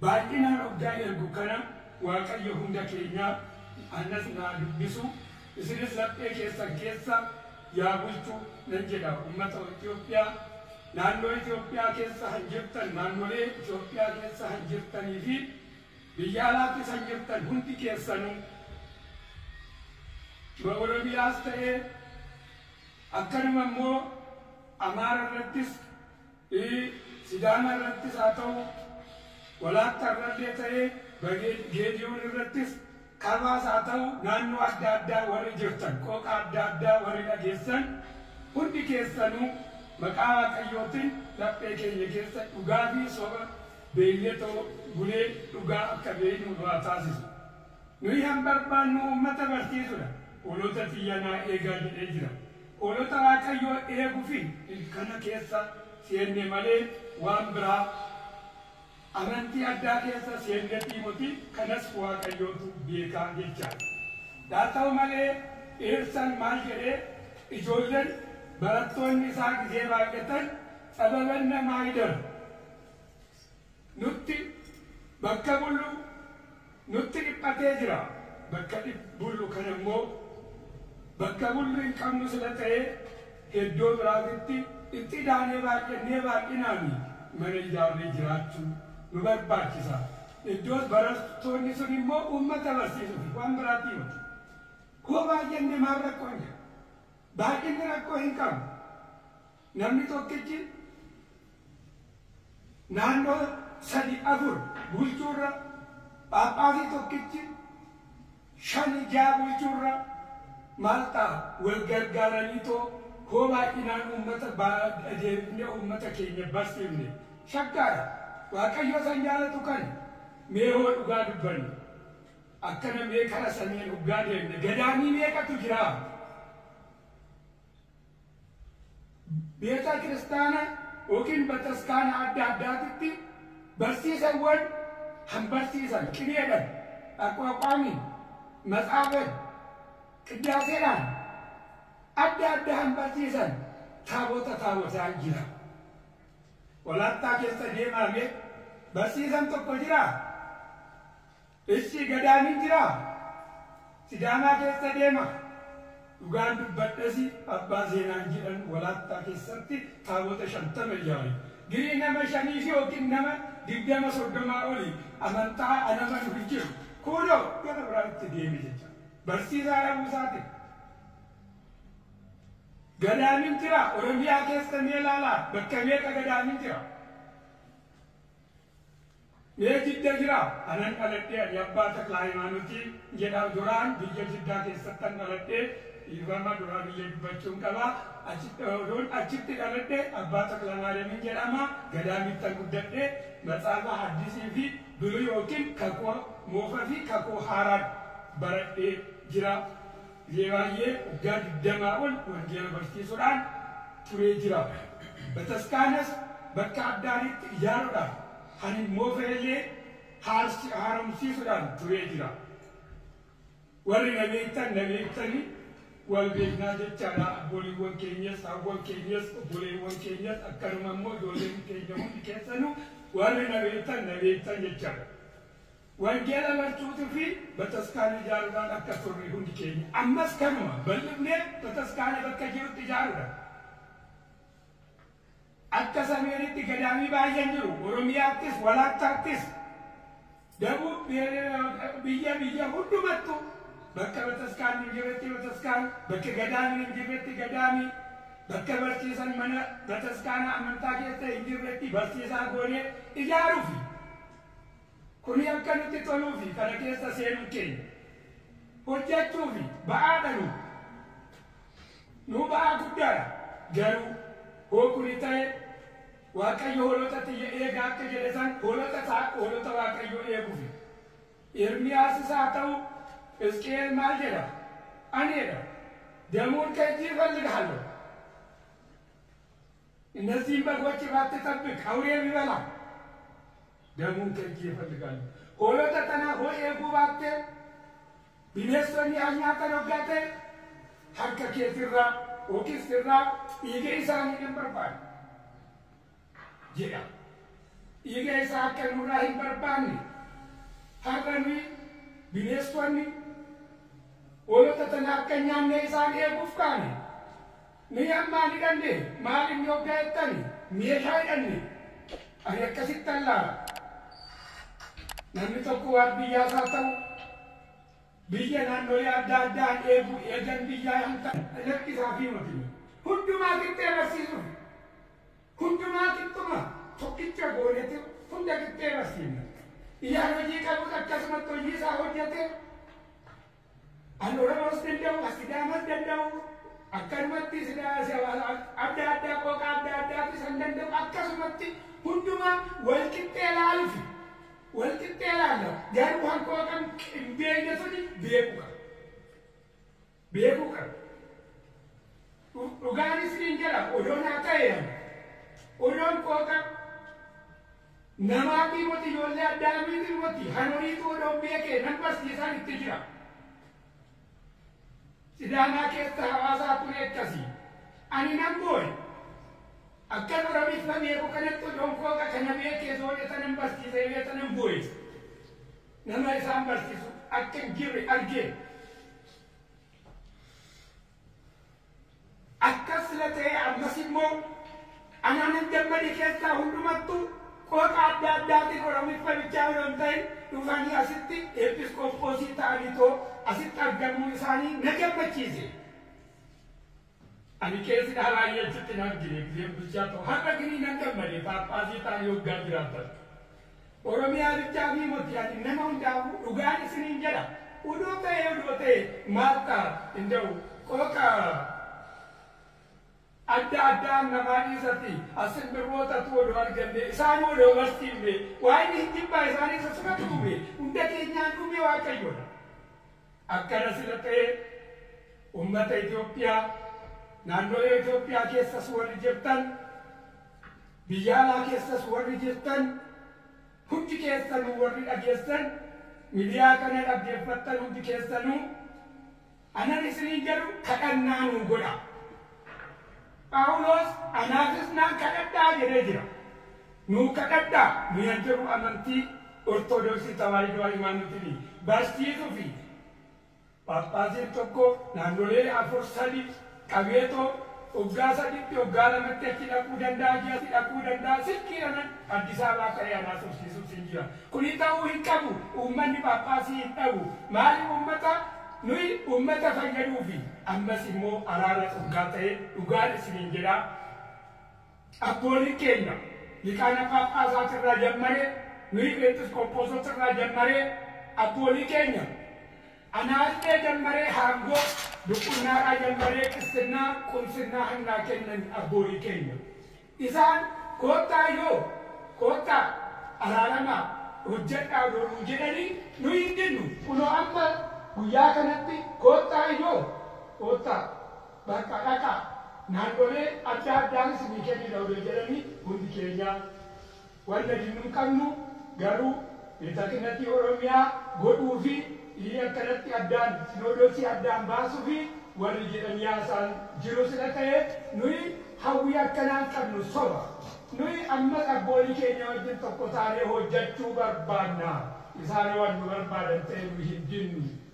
Baay'inaan oggaan ergu kana Waaqayyo hunda keenya anas naa dubbisu isinis laphee keessan keessa yaa bulchu nan jedha ummata Itoophiyaa naannoo Itoophiyaa keessa han jirtan naannolee Itoophiyaa keessa han jirtanii fi biyya alaattis han jirtan hundi keessanuu ma Oromiyaas ta'ee akkanuma immoo Amaara irrattis I. Sidaama irrattis haa ta'u Walaakka irrallee ta'ee Bagee, Geediyoon irrattis Kabaas haa ta'u naannoo adda addaa warri jirtan, qooqa adda addaa warri dhageessan hundi keessanuu maqaa Waaqayyootin laphee keenya keessa dhugaa fi soba beeynetoo bulee dhugaa akka beeynu nu haa taasisu. Nuyi han barbaannu uummata barsiisudha. Hoolota tiyya naa eegaa jedhee jira. Hoolota Waaqayyoo eeguufi kana keessa seenne malee waan biraa amantii addaa keessa seennetii moti kanas Waaqayyootu beeka jechaan. Haa ta'u malee Eersan maal jedhee ijoollen barattoonni isaa gizee baay'atan Tsababanna Maayidar, Nutti bakka bullu nutti dhiphatee jira bakka bullu kana immoo bakka bullu hin qabnu sila ta'ee heddoo biraatitti itti idaanee baay'annee baay'inaani mana ijaarree jiraachu nu barbaachisa iddoos barattoonni sun immoo uummata barsiisufi waan biraatti yooti hoo baay'anne maal rakkoon jira baay'inni rakkoo hin qabu Namni tokkichi naannoo sadii afur bulchuurra, phaaphaasii tokkichi shani ja'a bulchuurra maal ta'a? Wal gargaaraniitoo hoo baay'inaan uummata adeemifnee uummata keenya barsiifne. Shakkaadha. Waaqayyo isa hin jaalatu kana. Mee hoo dhugaa dubbanna. Akkana mee kara saneen oggaa deemne gadaamii meeqatu jiraa? Beeta kiristaana yookiin bataskaana adda addaatitti barsiisawwan kan barsiisan qineedhan, aqwaaqwaamiin, matsaafen, qiddaaseedhaan adda adda kan barsiisan taabota taabotaan jira. Walaattaa keessa deemaamee barsiisan tokko jiraa? Eshi gadaan hin jiraa sidaamaa keessa deema dhugaan dubbadhasi abbaa seenaan jedhan walaattaa keessatti taabota shantama ijaare girii nama shaniifi yookiin nama digdama soddomaa oli amantaa an amanu hin jiru kuuno gara biraa itti deeme jecha barsiisaa dhabuu isaatin gadaan hin jiraa oromiyaa keessa mee laalaa bakka meeqa gadaan hin jira. Mee jidda jira anan dhaladhe ani abbaa takla hayimaanoti jedha duraan biyya jiddaa keessattan dhaladhe dhiifama duraa biyya dubbachuun qaba odoon achitti dhaladhe abbaa takla maariyamin jedhama gadaamittan guddadhe matsaafa haddisi fi buluy yookiin kakuu moofa fi kakuu haaraan baradhe jira Zeebaayee waggaa digdamaa ol wangeela barsiisuudhaan turee jira. Bataskaanas bakka adda adiitti ijaaruudhaan kan hin moofnellee haaromsiisuudhaan turee jira. Warri na beektan na beektani wal beeknaa jechaadha. Abbooliiwwan keenyas, haawwan keenyas, obboleewwan keenyas akkanuma immoo ijoolleen keenya hundi keessanuu warri na beektan na beektan jechaadha. Wangeela barsuutuu fi bataskaana ijaaruudhaan akka turre hundi keenya ammas kanuma bal'ifnee bataskaana bakka jirutti ijaaruudha. Akka Sameeritti gadaamii baay'een jiru. Oromiyaattis, Walaattaattis, Dabuub biyya biyya hundumattu bakka bataskaanni hin jirretti bataskaan, bakka gadaamiin hin jirretti gadaamii, bakka barsiisan mana bataskaana amantaa keessa hin jirretti barsiisaa goonee ijaaruufi. Kuni akka nutti toluufi kana keessa seenuun keenya hojjachuufi ba'aa dhaluu nuu ba'aa guddaadha. Garuu hoo kuni ta'e Waaqayyo hoolota tiyya eegaa akka jedhe san hoolota isaa hoolota Waaqayyoo eegufi. Ermiyaassis haa ta'u Hisqi'eel maal jedha? Ani jedha Demuun kheji ifelghaalloo. Innazziin baghochi baatti xabbiq, awuree bibela. Danuun keetii yafalligaal. Hoolota tana hoo eeguu baattee, bineessonni haa nyaatan hoggaa ta'e, harka keeti irraa yookiis irraa dhiiga isaanii nan barbaada jedha. Dhiiga isaa akka nu irraa hin barbaanne har'a nuyi bineessonni hoolota tana akka hin nyaanne isaan eeguuf kaane. Nuyi amma hin hidhanne, maal inni hoggaa jettani, meeshaa hidhanne. Ani akkasittan laala. Namni tokko waardiyyaa isaa ta'uu, biyya naannolee adda addaan eeguu, eejan biyyaa hin ta'u. Lakki isaafii moti. Hundumaa qixxee barsiisuuf, hundumaa qixxuma tokkicha goonetu hunda qixxee barsiifna. Iyyaan hojii qabus akkasumatti hojii isaa hojjete, An Oromoos danda'u, as Sidaamas danda'u, akkanumatti Sidaa, si- adda addaa, qooqa adda addaatu isan danda'u, akkasumatti hundumaa wal qixxee laalufi. Wal qixxee laalla. Garuu kan qooqan hin beekne suni beekuu qaba. Beekuu qaba. Dhu- Dhugaanis niin jedha, odoo naa ta'e ani. Odoon qooqa Namaa fi moti ijoollee Addaamii fi moti hanoriitu odoon beekee nan barsiisaan itti jira. Sidaanaa keessa hawaasaa kun ekkasi. Ani nan booye. Akkan Oromiiffa beeku kanatti odoon kooqa kana beekee zoone tanan barsiisa jedhee tanan booye. Nama isaan barsiisu akka hin jirre argee. Akkas sila ta'ee ammas immoo anaanan gammade keessaa hundumattuu qooqa adda addaatiin Oromiffa bichaa odoo hin ta'in dhufanii asitti Eepiskoopoosii ta'aniitoo asitti argamuun isaanii na gammachiise. Ani qeesi dhaa baay'ee achitti hin argine gizeen bulchaa ta'u har'a gini nan gammade Paaphaasii ta'anii waggaa jiraatan. Oromiyaa bichaa fi moti ati nama hundaafuu dhugaan isiniin jedha uduu ta'ee udoo ta'e maal ta'a inda'u qooqa adda addaan namaa dhiisati as simbirrootatuu odoo argannee isaanuu odoo barsiifnee waa inni hin jibbaa isaanii isa sumatu uumee hunda keenyaan uumee waaqayyoodha akkana sila ta'ee ummata Itoophiyaa naannoolee Itoophiyaa keessas warri jirtan Biyya alaa keessas warri jirtan hundi keessanuu warri dhageessan midiyaa kana dhaggeeffattan hundi keessanuu anan isiniin jedhu kadhannaa nuu godha. Phaawulos anaafis naan kadhadhaa jedhee jira. Nuu kadhadhaa nu yan jedhu amantii Ortodoksii Tawaahidoo Hayimaanotiin barsiisuu fi Phaaphaasiin tokko naannolee afur sadi qabeetoo oggaa saditti oggaa lamatti achi dhaquu danda'a ji'atti dhaquu danda'a silkiidhanan Addisaabaa ka'ee anaasofsiisuus hin jira kuni ta'uu hin qabu uummanni phaaphaasii hin dhabu maaliif uummata nuyi uummata fayyaduufi ammas immoo araara dhuggaa ta'e dhugaan isiniin jedhaa Abbooliin keenya Liqaana Phaaphaasaatii irraa jammaree, nuyi Pheenxes Qophoosoota irraa jammaree, abboolii keenya Anaallee jammaree haangoo Duqunnaaraa jammaree Qisxinnaa, Qumsinnaa hannaa kennani abboolii keenya. Isaan koottaa yoo, koottaa, araaramaa, hojjadhaa odoo nuu jedhanii nuyi hin didnu. Kunoo amma guyyaa kanatti koottaa yoo, koottaa, Bakka dhaqaa, naannolee adda addaan isinii kennina odoo jedhanii hundi keenyaa wanna dinnu hin qabnu, garuu Betakinatii Oromiyaa godhuu fi ii akkanatti addaan Sinoodosii addaan baasufi warri jedhanii haasaan jiru sila ta'e nuyi hawwii akkanaa hin qabnu soba. Nuyi ammas abboolii keenya wajjin tokko taanee hojjachuu barbaanna. Isaan hoo wan nu barbaadan ta'e nuyi hin dinnu.